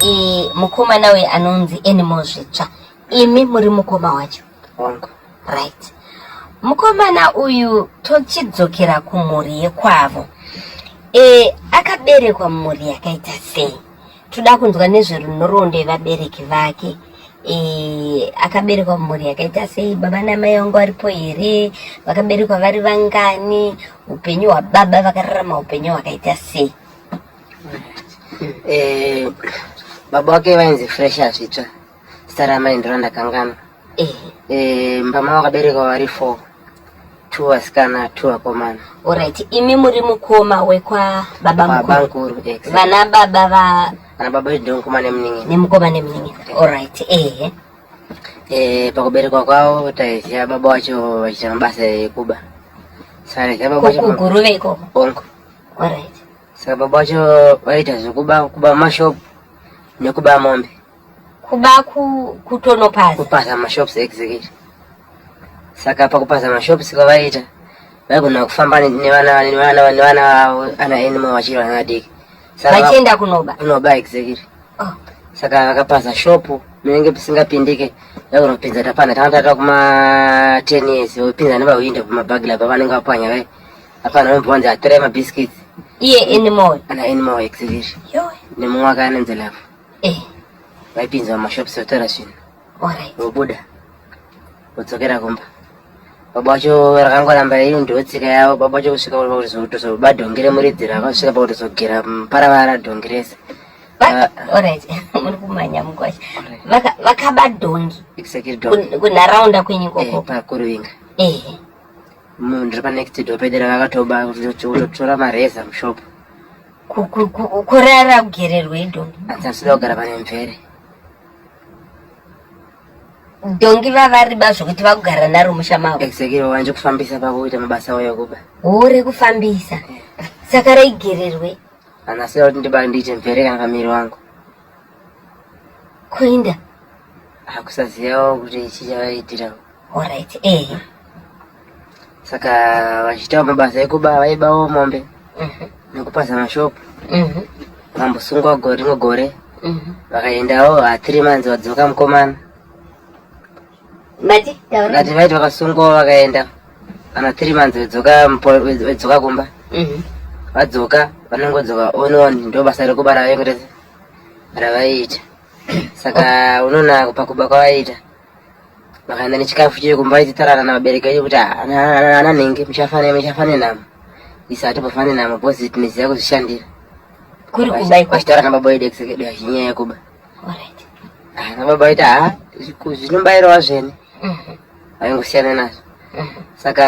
e, mukomana uyu anonzi animal zvitsva imi muri mukoma wacho hongu right mukomana uyu tochidzokera kumhuri yekwavo e, akaberekwa mhuri yakaita sei toda kunzwa nezverunhoroondo yevabereki vake e, akaberekwa mumhuri yakaita sei baba namai vangu varipo here vakaberekwa vari vangani upenyu hwababa vakararama upenyu hwakaita sei e, baba wake vainzi fresha zvitsva Zita ramai ndiro ndakanganwa. Eh. Eh, mbama wakaberekwa vari four. Two vasikana, two vakomana. Alright, imi muri mukoma wekwa baba mukuru. Baba mukuru, exactly. Vana baba va Vana baba vedu ndimukoma nemunin'ina. Nemukoma nemunin'ina. Okay. Alright, eh. Eh, pakuberekwa kwavo taiziva baba wacho vachiita mabasa ekuba. Saka taiziva baba wacho. Kuguruve ikoko. Onko. Alright. Saka baba wacho vaiita zvekuba kuba mashopu nekuba mombe. kuba kutonopaza kupaza mashops exactly saka pakupaza mashops kwavaita vaigona kufamba nevana vavo ana animal vachiri vana vadiki vachienda kunoba kunoba exactly oh. saka vakapaza shopu munenge pisingapindike vakunopinza tapana tavatata kuma ten years vopinza nevahwinde kumabagla pavanenge vapwanya vai apana vambonzi atorai mabiscuits iye animal ana animal exactly nemumwe akaanenzelavo Eh. Vaipinza mumashops votora zvinhu. Alright. Vobuda. Vodzokera kumba. Baba wacho rakangoramba iri ndotsika yavo baba wacho kusvika kutozoba dhongi remuridzi ravo kusvika pakutozogera paravara dhongi rese ah. muri kumanya mukwacho vakaba dhongi kunharaunda kwenyu koko eh, pakuruvinga eh. munhu ndiri panext door pedera vakatoba kutotora mareza mushopo kurara kugererwei dongi dzasida kugara pane mvere dongi vavariba zvokuti vakugara naro musha mavo exactly wanje kufambisa pakuita mabasa avo yokuba hure kufambisa eh. saka raigererwei anasida kuti ndiba ndiite mvere kana pamiri wangu kuinda akusazivawo kuti chichavaitirawo orit ehe eh. saka vachiitawo mabasa ekuba vaibawo mombe mhm. nekupaza mashopu mhm. vambosungwa gore rimwe gore mhm. vakaendawo hathiri manzi vadzoka mukomana vati vaiti vakasungwawo vakaenda kana thiri manzi vedzoka kumba vadzoka vanongodzoka onon ndo basa rekuba ravaiita saka unoona pakuba kwavaiita makaenda nechikafu chiri kumba ichitarana navabereki vedu kuti ana nhingi muchafane muchafane namo isa atipofane namo bhozi tinoziva kuzvishandira kuri kudai kwachitaura nababa wedu ekisekedu hazvinyaya kuba ah, nababa vaita ha zvinombairawa zvene mhm. vaingosiyana nazvo mhm. saka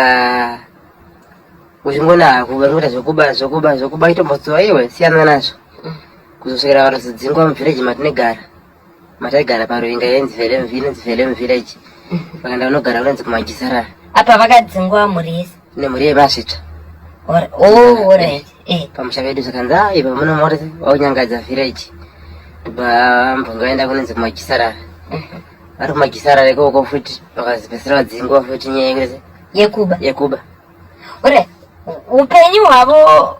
kuzvingona kuvangoita zvokuba zvokuba zvokuba itombotsuva iwe siyana nazvo mhm. kuzosvikira vanozodzingwa muvhireji matinegara mataigara paruinga yainzi velemvira inonzi velemvillage vakaenda vanogara kunonzi kumajisarara apa vakadzingwa mhuri yese nemhuri yemasvitsva oh, eh, eh. pamusha vedu zvakanzi a ah, ipa muno mori waunyangadza village ndobva mbonga vaenda kunonzi kumajisarara mhm. vari kumajisarara ikoko futi vakazipesera vadzingwa futi nyaya yekuba yekuba ore upenyu hwavo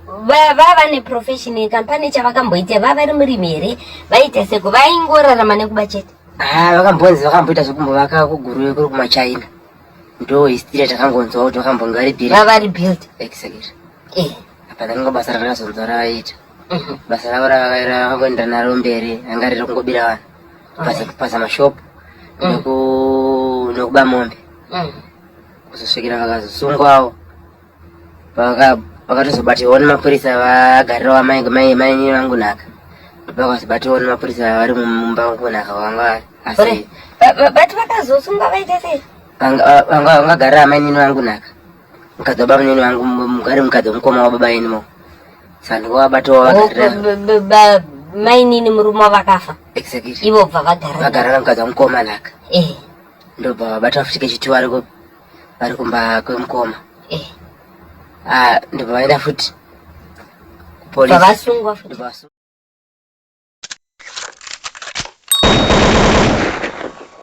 vava vane profession yekampani chavakamboita vava vari murimi here vaita seko vaingorarama nekuba chete ah, vakambonzi vakamboita zvekumbovaka kuguruve kuri kumachina ndo history takangonzwa kuti vakambonge vari build vava vari build exactly eh apa ndanga basa rakazonzwa ravaita mhm. basa ravo ravakangoenda naro mberi anga riri kungobira vanhu basa kupasa mashop mhm. nekuba mombe mhm. kuzosvikira vakazosungwawo pakatozobatirwa nemapurisa vagarira wamai mai mai vangu naka ndopakazobatirwa nemapurisa vari mumba wangu naka vanga asi but vakazosunga vaita sei vanga vakagarira amai nini vangu naka mukadzi wababa nini vangu mugari mukadzi wemukoma wababa inimo saka ndikowabatawo vagarira mai nini murume wavakafa exactly ivo bva vagarira vagarira mukadzi wamukoma naka eh ndobva vabata futi kechitiwa ariko vari kumba kwemukoma eh. ah, ndibva vaenda futi kupolisvavasungwa futi